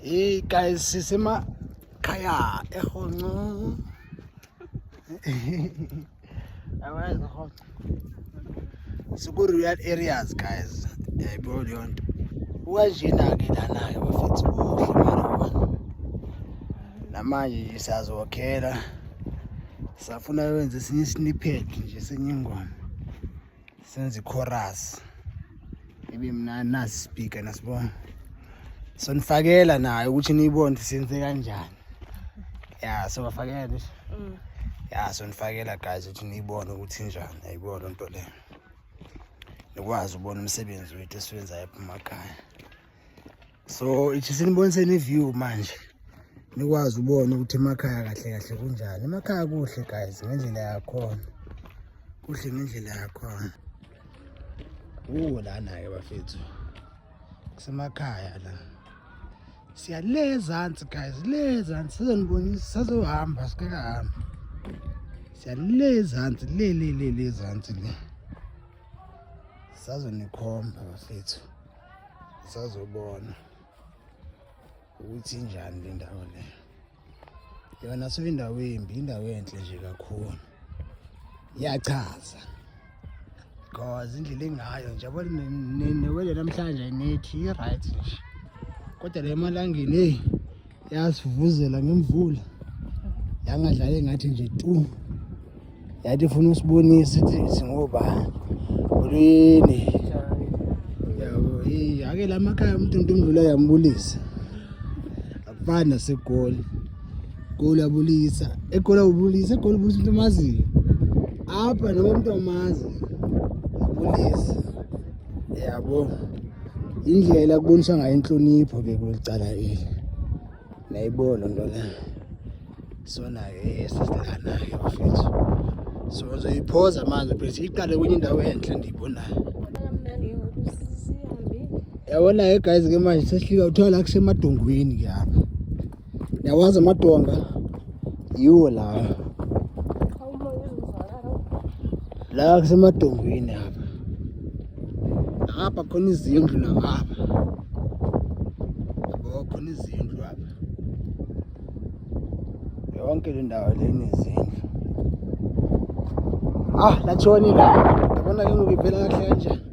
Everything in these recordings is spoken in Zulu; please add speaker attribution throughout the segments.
Speaker 1: Hey guys, sisema khaya ehonco. Awazi ehonco. Siku real areas guys. Yayibona eh, leyo nto. Ukanjena ke lana ke bafethu kuhle mara wona. Namanje siyazokhela. Safuna wenze sinye snippet nje senyingoma. senza ichorus ibe mnandi nasi speaker nasibona sonifakela nayo ukuthi niyibone ukuthi senze kanjani ya sobafakela nje mm. ya sonifakela guys ukuthi niyibone ukuthi njani ayibona lento le nikwazi ubona umsebenzi wethu esiwenzayo ephuma ekhaya so ithi siniboniseni iview manje nikwazi ubona ukuthi emakhaya kahle kahle kunjani emakhaya kuhle guys ngendlela yakhona kuhle ngendlela yakhona uwo lana-ke bafethu kusemakhaya la siya le ezansi guys le ezansi sizonibonisa sazohamba sikakahambi siya le ezansi le le le le ezansi le sazonikhomba bafethu sazobona ukuthi injani le ndawo le yona so indawo embi indawo enhle nje kakhulu iyachaza because indlela engayo nje yabo newele namhlanje nethi i-right nje kodwa le malangeni eyi yasivuzela ngemvula yangadlali ngathi nje tu yathi ifuna usibonisa ithi singobani ulwini yabo ake la makhaya umuntu into imvula yambulisa akufani nasegoli goli abulisa egoli abulisa egoli ubulisa into omaziyo apha noma umuntu omazi abulisa yabo indlela kubonisa ngayo inhlonipho ke kulicala eli nayibona nto la sonayo esizikanayo bafethu so ngizoyiphoza manje bese iqale kwenye indawo enhle ndiyibonayo yabona-ke guys ke manje sesihlika kuthiwa la kusemadongweni ke apha Yawazi amadonga yiwo lawa la kusemadongweni apha apha khona izindlu nangapha yabo khona izindlu apha yonke le ndawo le nezindlu ah latshoni la yabona ke ngoku ivela kahle kanjani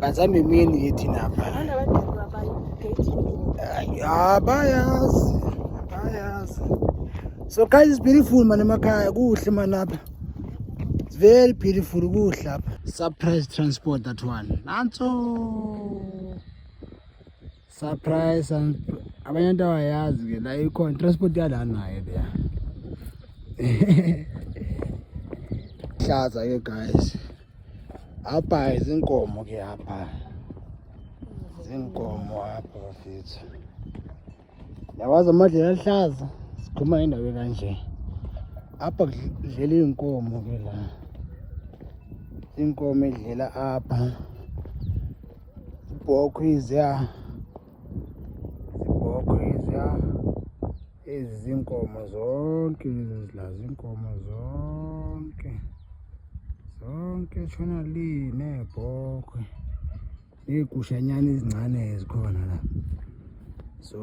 Speaker 1: bazame imini yithi napa abayazi abayazi so guys is beautiful mani emakhaya kuhle mani apha it's very beautiful kuhle apha surprise transport that one nanso surprise and abanye into awayazi ke la ikhona transport yala naye leya hlaza ke guys apha izinkomo ke apha zinkomo apha bafethu yawazi amadlela aluhlaza sikhuma indawo kanje apha kudlela iy'nkomo ke la iy'nkomo edlela apha Ibhokhwe iziya ibhokhwe iziya ezi zinkomo zonke lezi zilazi inkomo zonke zonke shona li nebhokhwe ney'gushanyana ezincane ezikhona la so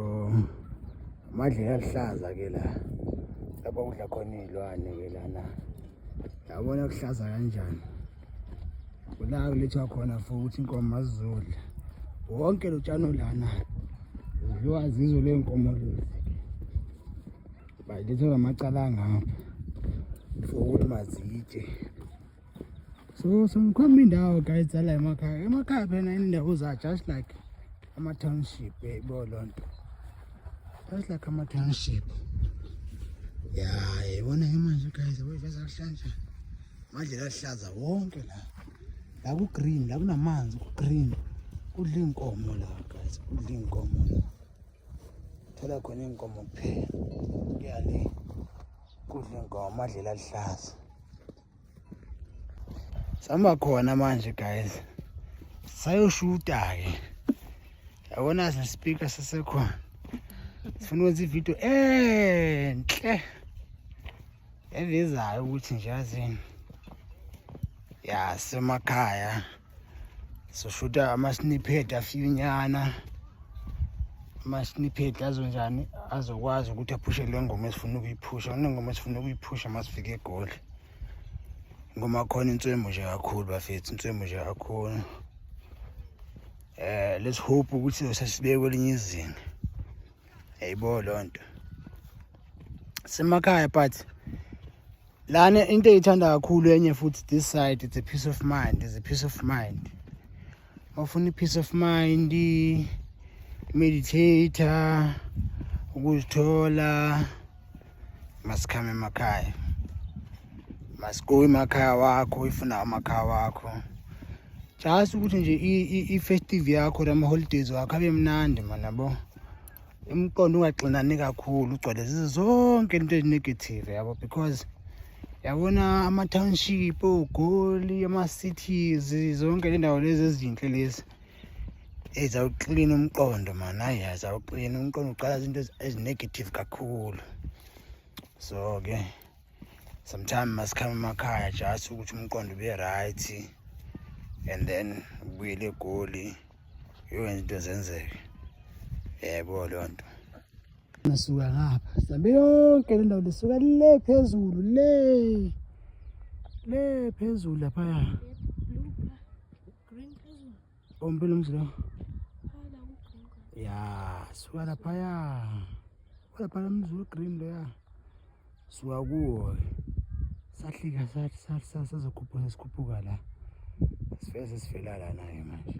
Speaker 1: amadlela aluhlaza ke la lapho kudla khona iy'lwane ke lana yabona kuhlaza kanjani kula kulethwa khona futhi inkomo azizodla wonke lo tshani olana udliwa zizo ley'nkomo lezi bayilethwa ngamacala angapha for ukuthi mazitshe so so ngikhomba indawo guys ala emakhaya emakhaya phela indawo za just like ama-township yayibo loo nto just like ama-township ya yayibona ke manje guys yabo iveza kuhlanje amadlela aluhlaza wonke la la ku-green la kunamanzi ku-green kudla iy'nkomo la guys kudla iy'nkomo la thola khona iy'nkomo kuphela kuyale kudla iy'nkomo amadlela aluhlaza sihamba khona manje guys sayoshuta-ke yabona sesipika sesekhona sifuna ukwenza ividiyo enhle evezayo ukuthi nje yazini yasemakhaya soshuta ama-snippet afiyunyana ama-snippet azonjani azokwazi ukuthi aphushe le ngoma esifuna ukuyiphusha kunengoma esifuna ukuyiphusha masifike egoli ngoma khona inswemu nje kakhulu bafethu inswemu nje kakhulu eh let's hope ukuthi sesibeke kwelinye izinga yayibo loo nto semakhaya but lana into eyithanda kakhulu enye futhi this side it's a peace of mind is a peace of mind bafuna i-peace of mind meditate ukuzithola masikhame emakhaya masikuwe emakhaya wakho ifuna amakhaya wakho just ukuthi nje i-festive yakho nama-holidays wakho abe mnandi manabo imiqondo ungaxinani kakhulu ugcwale zizo zonke into ezinegative yabo because yabona ama-township ogoli ama-cities zonke le ndawo lezi ezinhle lezi ezawuklina umqondo mani hayi azawuklina umqondo uqala izinto ezinegative kakhulu so ke sometime masikhame emakhaya just ukuthi umqondo ube right and then ubuyele egoli yowenza into zenzeke yebo leyo nto ngasuka ngapha sihambe yonke le ndawo lisuka le phezulu le le phezulu laphaya
Speaker 2: ompela umzi lo ya suka
Speaker 1: laphaya laphaya umzi we-green loya suka kuwo sahlika sathi sathi sasazokhuphuka sesikhuphuka la sifike sesifela lana-ke manje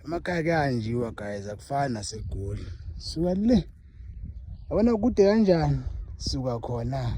Speaker 1: emakhaya kuyahanjiwa guys akufani nasegoli suka le yabona kude kanjani suka khona